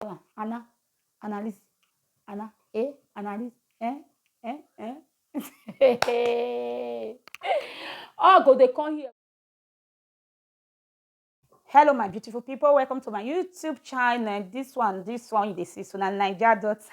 call am ana analyst ana eh analyst eh eh eh all go dey come here. hello my beautiful people welcome to my youtube channel this one this one you dey see so na naija daughter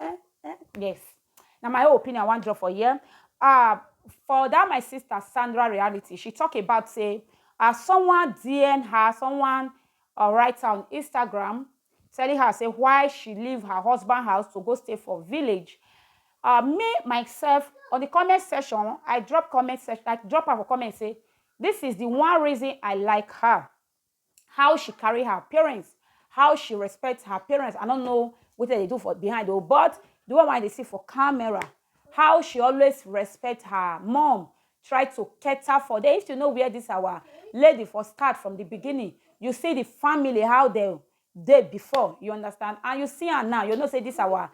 Eh, eh, yes. Now my own opinion I want drop for here. Uh, for that my sister Sandra reality, she talk about say uh, someone DM her, someone uh, write on Instagram telling her say why she leave her husband house to go stay for village. Uh, me myself on the comment section, I drop comment section, I drop her comment say this is the one reason I like her. how she carry her parents, how she respect her parents. I don't know what they do for behind though, but the one why they see for camera, how she always respect her mom, try to cater for them. If you know where this our lady for start from the beginning, you see the family how they they before you understand and you see her now you know say this our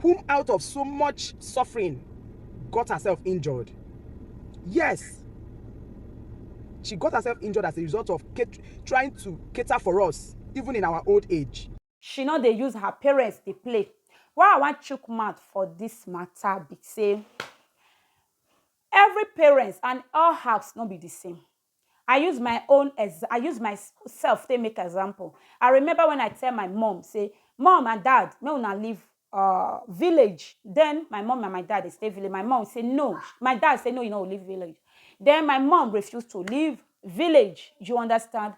whom out of so much suffering got herself injured. Yes, she got herself injured as a result of trying to cater for us, even in our old age. She no dey use her parents dey play. Why I wan chook mouth for this matter be say every parents and all house no be the same. I use my own exa I use my self take make example. I remember when I tell my mom say, mom and dad make una leave uh village then my mom and my dad dey stay village my mom say no my dad say no you no go leave village then my mom refuse to leave village you understand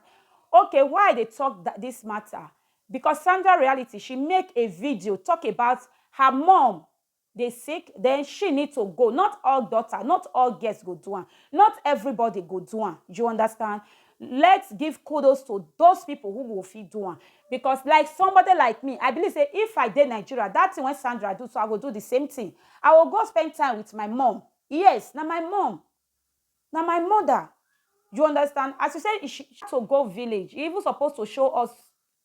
okay why I dey talk that this matter because Sandra reality she make a video talk about her mom dey sick then she need to go not all daughter not all girls go do am not everybody go do am you understand let's give kudos to those people who go fit do am because like somebody like me i believe say if i dey nigeria that thing wey sandra do so i go do the same thing i go go spend time with my mom yes na my mom na my mother you understand as you say she to go village e even suppose to show us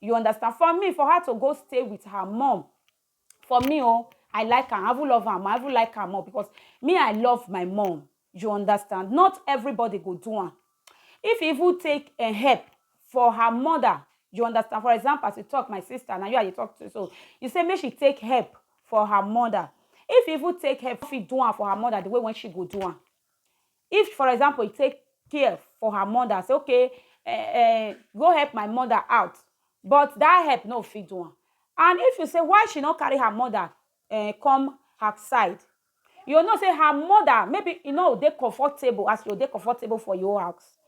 You understand? For me, for her to go stay with her mom, for me, oh, I like her. I even love her. I even like her more because me, I love my mom. You understand? Not everybody go do one. If you even take a help for her mother, you understand? For example, as you talk, my sister, now you are you talk to, so you say, make she take help for her mother. If you even take help, if you do one for her mother, the way when she go do one. If for example e take care for her mother say okay um go help my mother out but that help no fit do am and if you say why she no carry her mother um come her side you go know say her mother maybe e no go dey comfortable as e go dey comfortable for your own house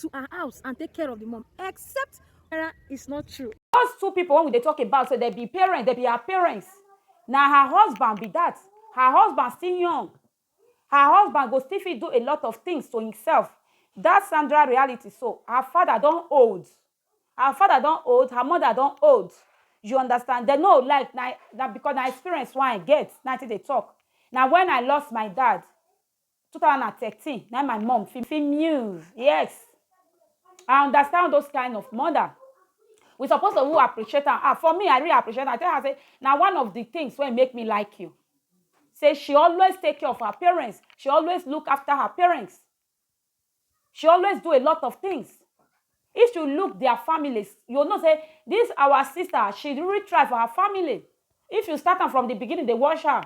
to her house and take care of the mom except Sarah is not true. Those two people when we dey talk about so they be parents, they be her parents. Now her husband be that. Her husband still young. Her husband go still fit do a lot of things to himself. That Sandra reality so her father don old. Her father don old, her mother don old. You understand? They no like na, na because na experience why I get, na till they talk. Now when I lost my dad, two thousand and thirteen na my mom fit fit muse yes i understand those kind of mother we suppose to who appreciate am ah for me i really appreciate am i tell her say na one of the things wey make me like you say she always take care of her parents she always look after her parents she always do a lot of things if you look their families you know say this our sister she really try for her family if you start am from the beginning dey watch her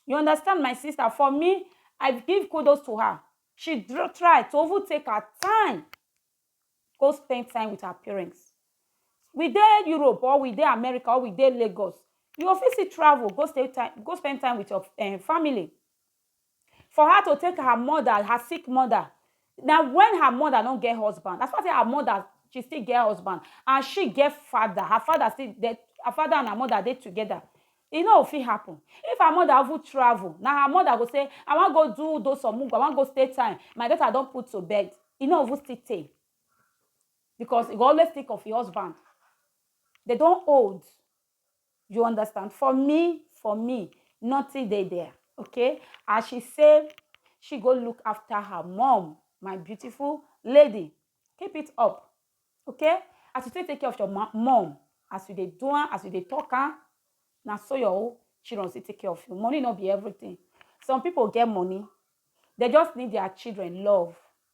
You understand my sister for me I give kudos to her she try to even take her time go spend time with her parents we dey Europe or we dey America or we dey Lagos you go fit still travel go stay time go spend time with your um family for her to take her mother her sick mother Na when her mother no get husband, as far say her mother she still get husband and she get father, her father still dey, her father and her mother dey together, e no go fit happen. If her mother even travel, na her mother go say, I wan go do those some mugu, I wan go stay time, my daughter don put to bed, e no even still tey because e go always think of e husband. Dey don old. you understand for me for me nothing dey there okay as she say she go look after her mom my beautiful lady keep it up okay as you take take care of your mom as you dey do am as you dey talk am na so your own children still take care of you money no be everything some people get money they just need their children love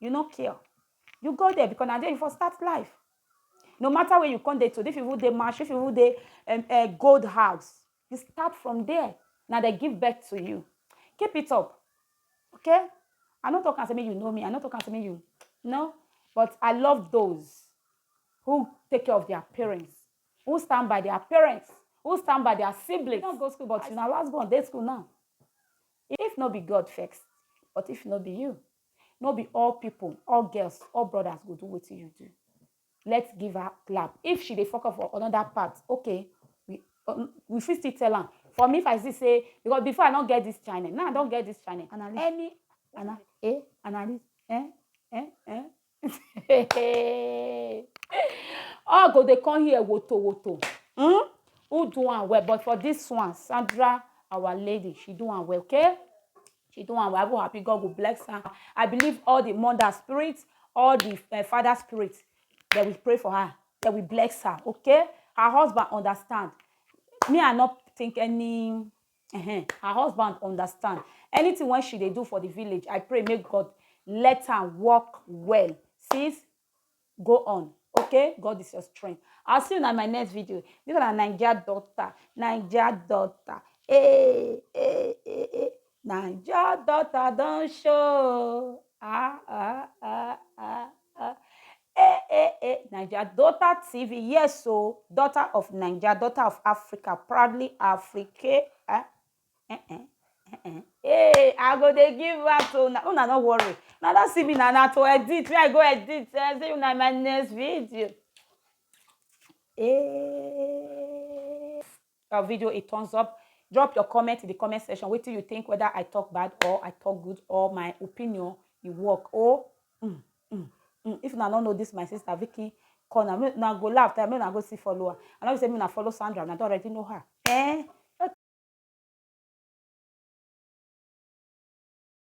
you no care you go there because na there you for start life no matter where you come dey today if you dey march if you dey um, uh, gold house you start from there na they give birth to you keep it up okay i no talk am say make you know me i no talk am say make you no but i love those who take care of their parents who stand by their parents who stand by their siblings you no go school but you na last born dey school now If no be God vex, but if no be you, no be all people, all girls, all brothers go do wetin you do. Let's give her clap. If she dey fuck up for another part, okay, we, um, we fit still tell am. For me, if I see say, because before I don't get this channel, now I don't get this channel. Analyst. Any, Ana, eh, analyst, eh, eh, eh, all go dey come here woto woto hmm? who do am well but for this one sandra our lady she do am well okay she do am well i'm happy god go bless her i believe all the mother spirit all the uh, father spirit they will pray for her they will bless her okay her husband understand me i not think any Ehen, her husband understand. Anything wey she dey do for the village, I pray make God let am work well. Sis, go on, okay? God is your strength. I'll see you in my next video. This one na Naija daughter, Naija daughter. Hey, hey, hey, hey. Naija daughter don show. Ah, ah, ah, ah. Eh eh eh, Naija Daughter TV, yes o, daughter of Naija, daughter of Africa, proudly Afrique. Eh eh eh eh eh. Hey, I go dey give her to una, una no worry. Una don see me na na to edit, me I go edit, eh, see una in my next video. Eh. our video a thumbs up. Drop your comment in the comment section. Wait till you think whether I talk bad or I talk good or my opinion you work. Oh, mm, mm, mm. if I don't know this, my sister Vicky corner. Me now go laugh. I mean, I go see follower. I know you say me now follow Sandra. And I don't already know her. Eh?